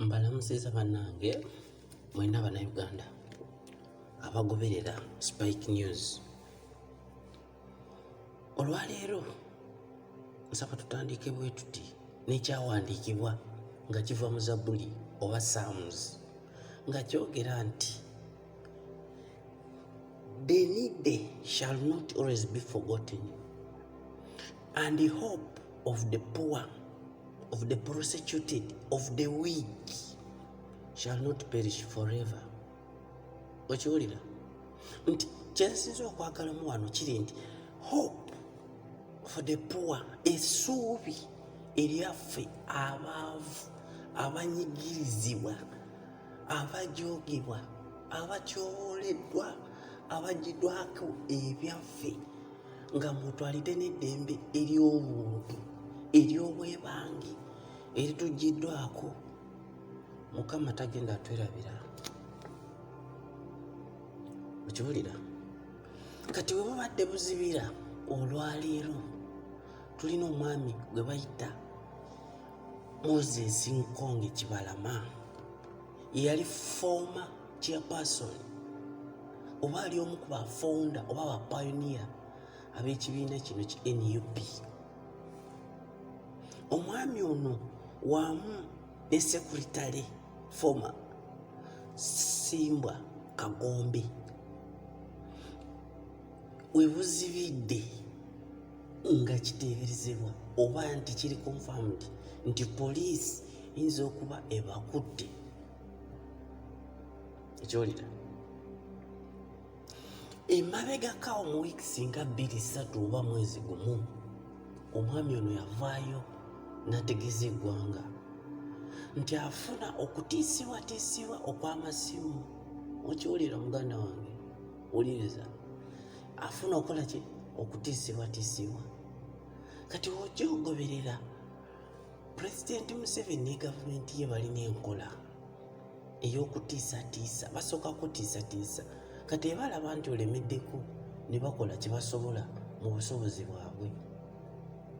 mbalamusiza bannange mwena bannayuganda abagoberera spike news olwaleero nsaba tutandike bwe tuti n'ekyawandiikibwa nga kiva mu zabbuli oba saamuzi nga kyogera nti Benide shall not always be forgotten and the hope of the poor of the prosecuted of the weak shall not perish forever okiwulira nti kyensinza okwagalamu wano kiri nti hope for the poor esuubi eryaffe abaavu abanyigirizibwa abajogibwa abatyooleddwa abajidwako ebyaffe nga mutwalidde n'eddembe ery'obuntu ery'obwebange eritujiddwako mukama tagenda atwerabira okiwulira kati bwe bubadde buzibira olwaleero tulina omwami gwe bayita moses nkonge kibalama yeyali foma chairperson oba ali omu ku bafounda oba bapayoniya ab'ekibiina kino ki nup omwami ono wamu ne sekuritale foma simbwa kagombe webuzibidde nga kiteeberezebwa oba nti kiri confirmed nti poliisi eyinza okuba ebakutte ekyolira emabegakawo mu wiiki singa bbiri ssatu oba mwezi gumu omwami ono yavaayo n'ategeeza eggwanga nti afuna okutiisibwatiisibwa okw'amasimu okiwulira muganda wange wuliriza afuna okola ki okutiisibwatiisibwa kati ojja ogoberera pulezidenti museveni ne gavumenti ye balina enkola ey'okutiisatiisa basooka kutiisatiisa kati eba alaba nti olemeddeko ne bakola kye basobola mu busobozi bwabwe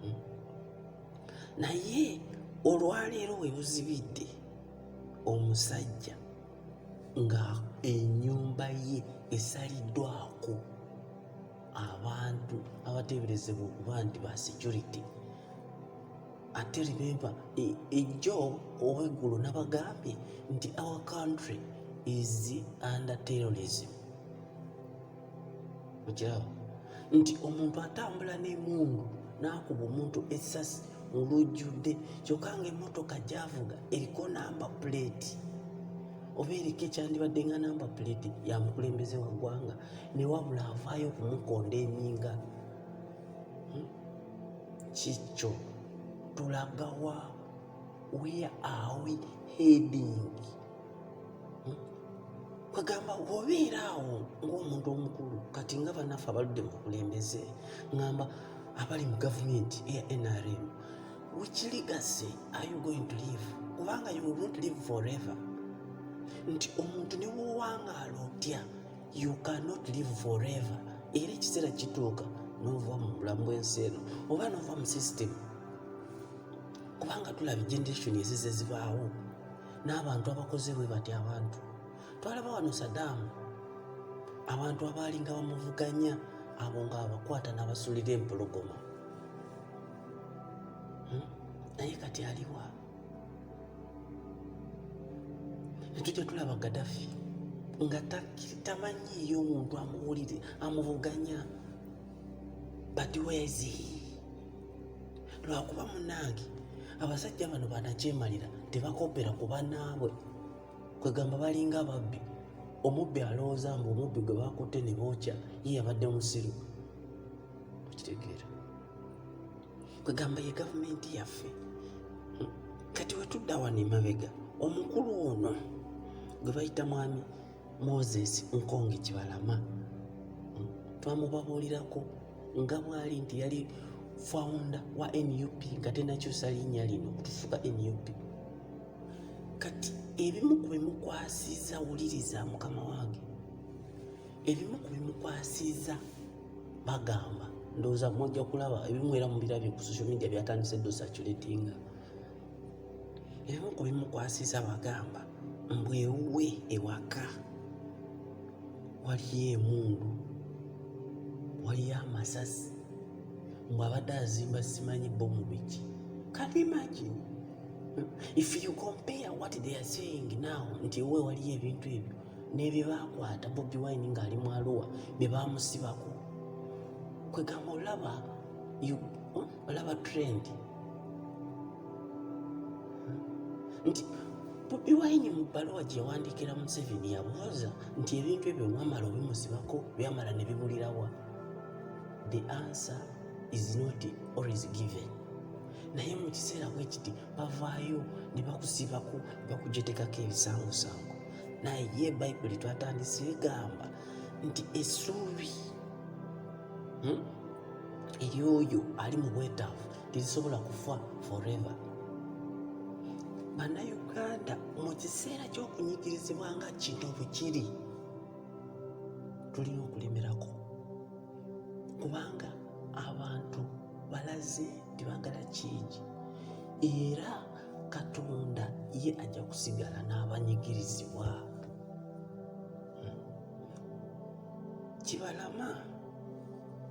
hmm? naye olwaleero we buzibidde omusajja nga ennyumba ye esaliddwako abantu abateeberezebwa okuba nti ba security ate remember e, ejjo oweggulo nabagambye nti our country is under terrorism okiraba nti omuntu atambula n'emundu n'akuba omuntu essasi olujjudde kyokka nga emmotoka gyavuga eriko namba puleeti oba eriko ekyandibadde nga namba puleeti ya mukulembeze wa ggwanga ne wabula avaayo okumukonda eninga hmm? kikyo tulagawa where are we heading hmm? kwegamba obeera awo ngaomuntu omukulu kati nga banaffe abaludde mu bukulembeze ngamba abali mu gavumenti eya nrm which legacy are you going to live kubanga you will not live forever nti omuntu ne wowangaala otya you cannot live forever era ekiseera kituuka nova mu bulamu bwensi eno oba nova mu system kubanga tulaba generation ezize zibaawo n'abantu abakoze bwe bati abantu twalaba wano sadaamu abantu abaalinga bamuvuganya abo nga abakwata n'abasulira empologoma hmm? naye kati aliwa netujja tulaba gadafi nga tamanyiiyo omuntu amuwulire amuvuganya but wezi lwakuba munange abasajja bano banakyemalira tebakopera ku banaabwe kwegamba balinga ababbi omubbi alowooza mbu omubbi gwe bakutte ne bookya ye yabadde musiru okitegeera kwegamba ye gavumenti yaffe hmm. kati wetudda wano emabega omukulu ono gwe bayita mwami moses nkonge kibalama hmm, twamubabuulirako nga bwali nti yali founder wa nup nga tenakyusa linnya lino okutufuka nup kati ebimu ku bimukwasiza wuliriza mukama wange ebimu ku bimukwasiza bagamba ndowooza mujja kulaba ebimu era mubirabye ku social media byatandise dosaculatinga ebimu ku bimukwasiza wagamba mbwewuwe ewaka waliyo emundu waliyo amasasi mbu abadde azimba simanyi bomu biki can you imagine if you compare what they are saying now nti ewe waliyo ebintu ebyo nebyebakwata bobi wine ngaali mu aluwa byebamusibako kwegamba olaba olaba trend nti bobi wine mu bbaluwa gyewandiikira museveni yabuuza nti ebintu ebyo wamala obimuzibako byamala ne bibulirawa the answer is not always given naye mu kiseera bwe kiti bavaayo ne bakusibako ne bakujetekako ebisangosango naye ye bayibuli twatandise egamba nti esuubi hmm? eri oyo ali mu bwetaavu terisobola kufa forever bannayuganda mu kiseera ky'okunyigirizibwa nga kino bukiri tulina okulemerako kubanga abantu balaze tebagala kingi era katonda ye ajja kusigala n'abanyigirizibwa hmm. kibalama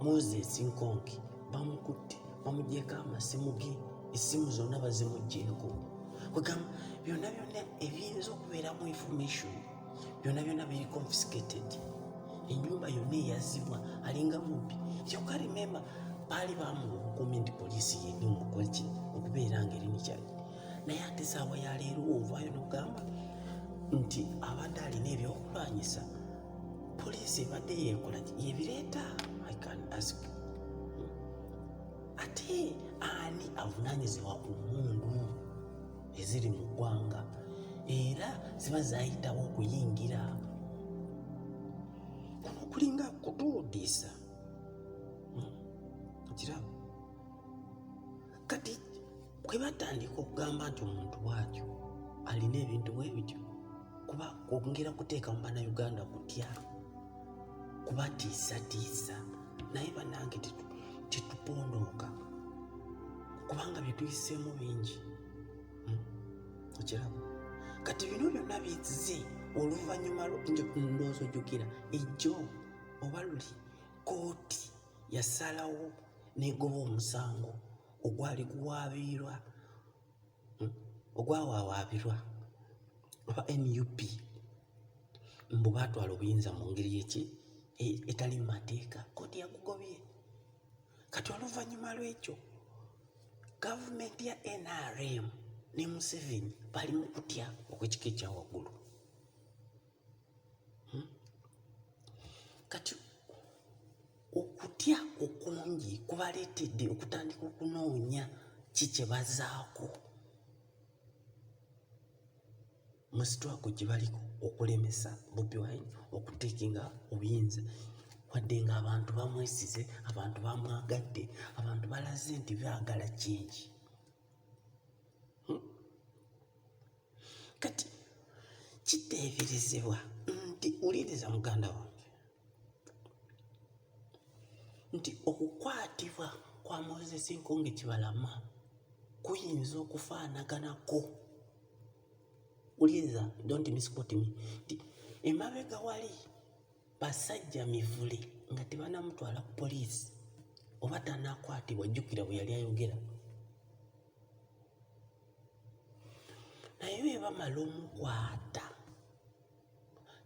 moses nkonki bamukutte bamugyeko amasimu ge essimu zonna bazimugyeko kwegamba byonna byonna ebiyinza okubeeramu information byonna byonna biri confiscated enyumba yonna eyazibwa alinga mubbi kyoka remember baali bamuwa obukuumi nti poliisi yeni omukoleki okubeera nga eri mukyali naye ate saawa yaleero ovaayo nokugamba nti abadde alina ebyokulwanyisa poliisi ebadde yeekola yebireeta i can ask ate ani avunanyizibwa ku mundu eziri mu ggwanga era ziba zayitawo okuyingira kuno kulinga kutuudiisa hmm. kirabo kati kwe batandika okugamba nti omuntu bwatyo alina ebintu bwe bityo kuba kwongera kuteeka mu bannayuganda kutya kubatiisatiisa naye banange tetupondooka kubanga byetuyiseemu bingi hmm? okiraba kati bino byonna bizze oluvannyuma ndowooza ojjukira ejjo oba luli kooti yasalawo negoba omusango ogwali guwaabirwa hmm, ogwawawaabirwa aba nup mbu baatwala obuyinza mu ngeri eki e, etali mu mateeka kkooti yagugobye kati oluvannyuma lw'ekyo gavumenti ya nrm ne museveni bali mu kutya okw'ekika ekya waggulu hmm? kati okutya okungi kubaleetedde okutandika okunoonya ki kye bazaako mu sitwago gye baliko okulemesa bobi wine okuteekinga obuyinza wadde nga abantu bamwesize abantu bamwagadde abantu balaze nti baagala kingi kati kiteeberezebwa nti wuliriza muganda wange nti okukwatibwa kwa moses nkonge kibalama kuyinza okufaanaganako wuliriza don't misquote me nti emabega wali basajja mivule nga tebanamutwala ku poliisi oba tanakwatibwa jjukira bwe yali ayogera naye bwe bamala omukwata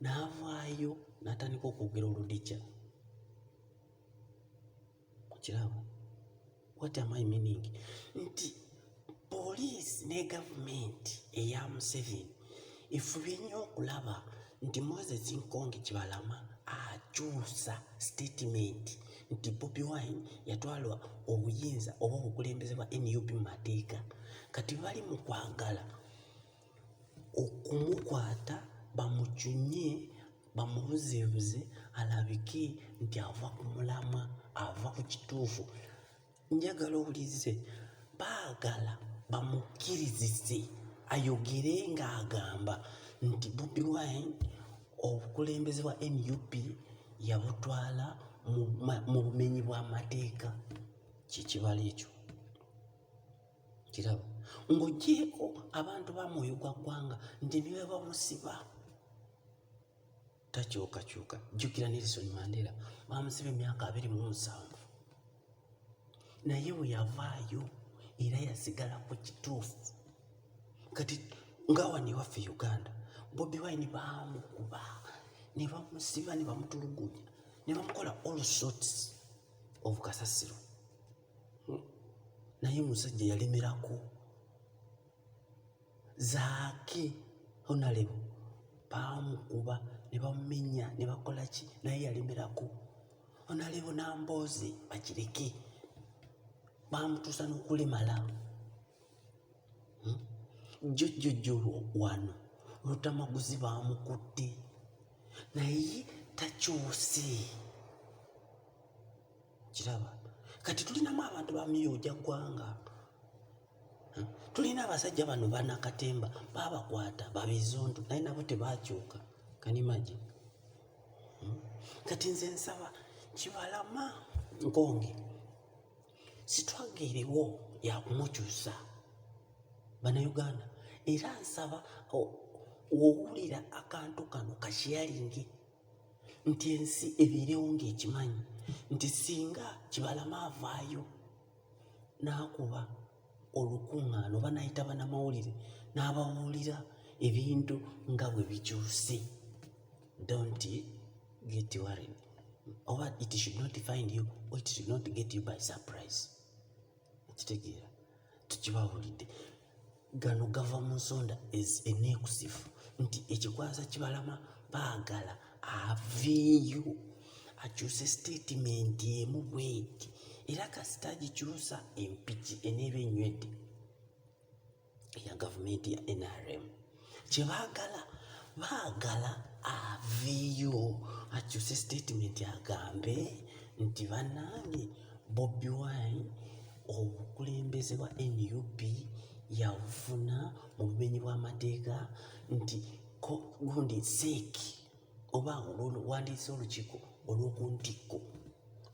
n'avaayo n'atandika okwogera oludija okiraba what am I meaning nti poliisi ne gavumenti eya Museveni efubye nnyo okulaba nti Moses Nkonge Kibalama akyusa sitetimenti nti Bobi Wine yatwalwa obuyinza oba obukulembeze bwa NUP mu mateeka kati bali mu kwagala okumukwata bamucunye bamubuzeebuze alabike nti ava ku mulamwa ava ku kituufu njagala owulirize baagala bamukkirizise ayogere ng'agamba nti bobi wine obukulembeze bwa nup yabutwala mu bumenyi bw'amateeka kyekibala ekyo kiraba ng'ogyeko abantu ba mwoyo gwa ggwanga nti nibebamusiba takyukakyuka jjukira nelson mandela bamusiba emyaka abiri mu nsanvu naye bwe yavaayo era yasigala ku kituufu kati nga wano ewaffe uganda bobi wine bamukuba ne bamusiba ne bamutulugunya ne bamukola all sorts of kasasiro hmm. naye musajja yalemerako zaake honalebo baamukuba ne bamumenya ne bakola ki naye yalemerako honalebo namboozi bakireke baamutuusa n'okulemala hmm? jjojjojjo wano lutamaguzi baamukutte naye takyuse kiraba kati tulinamu abantu bamiyooja ggwanga hmm? tulina abasajja bano banakatemba babakwata babizuntu naye nabo tebakyuka kanimaji hmm? kati nze nsaba kibalama nkonge sitwaga eriwo yakumukyusa banauganda era nsaba owulira akantu kano kashiyalingi nti ensi ebiirewo ng'ekimanyi nti singa kibalama avaayo n'akuba olukuŋŋaana oba n'ayita banamawulire n'ababuulira ebintu nga bwe bikyuse don't get worried oba it should not find you or it should not get you by surprise okitegeera tukibawulidde gano gava mu nsonda eneekusifu nti ekikwaza kibalama baagala aveeyo akyuse sitatimenti emu bweti era kasita agikyusa empiki eneeba enywedde eya gavumenti ya NRM kye baagala baagala aveeyo akyuse sitatimenti agambe nti bannange Bobi Wine obukulembeze bwa nup yabufuna mu bumenyi bw'amateeka nti gundi seeki oba olwono wandiise olukiiko olw'oku ntikko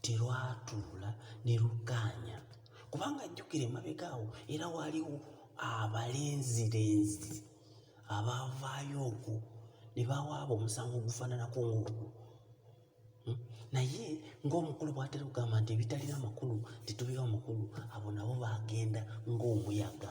terwatuula ne lukkaanya kubanga jjukira emabega awo era waaliwo abalenzirenzi abaavaayo okwo ne bawaaba omusango ogufaananako ng'ogwo hmm? naye ng'omukulu bw'atera okugamba nti ebitalina makulu tetubiwa makulu abo nabo baagenda ng'omuyaga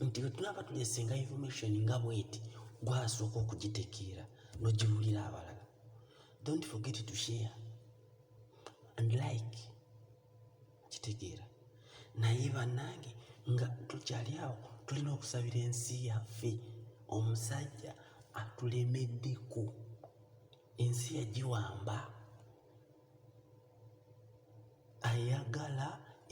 nti bwe tunaba tulesenga information nga bweti gwasooka okugitekeera nogiwulira abalala don't forget to share and like kitegeera naye bannange nga tukyali awo tulina okusabira ensi yaffe omusajja atulemeddeko ensi yagiwamba ayagala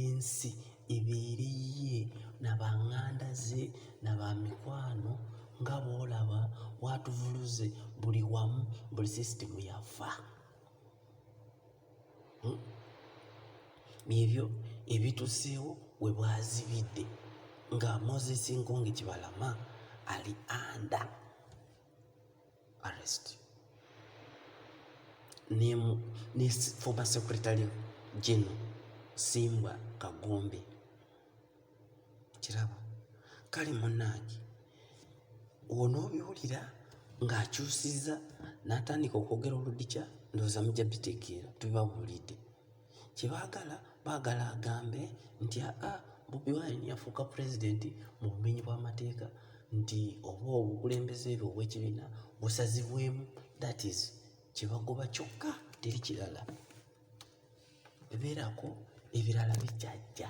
ensi ebeere yiye na banganda ze na ba mikwano nga bwolaba bwatuvuluze buli wamu buli sisitemu yafa hmm? ebyo ebituseewo we bwazibidde nga moses nkonge kibalama ali anda arrest ne, ne former secretary general Simbwa Kagombe kirabo kale munange onoobiwulira ng'akyusizza n'atandika okwogera oludikya ndowooza mujja bitegeera tubibabuulidde kye baagala baagala agambe nti aa bobi wine yafuuka pulezidenti mu bumenyi bw'amateeka nti oba obukulembeze bwe obw'ekibiina busazibwemu that is kye bagoba kyokka teri kirala ebeerako ebirala bijjajja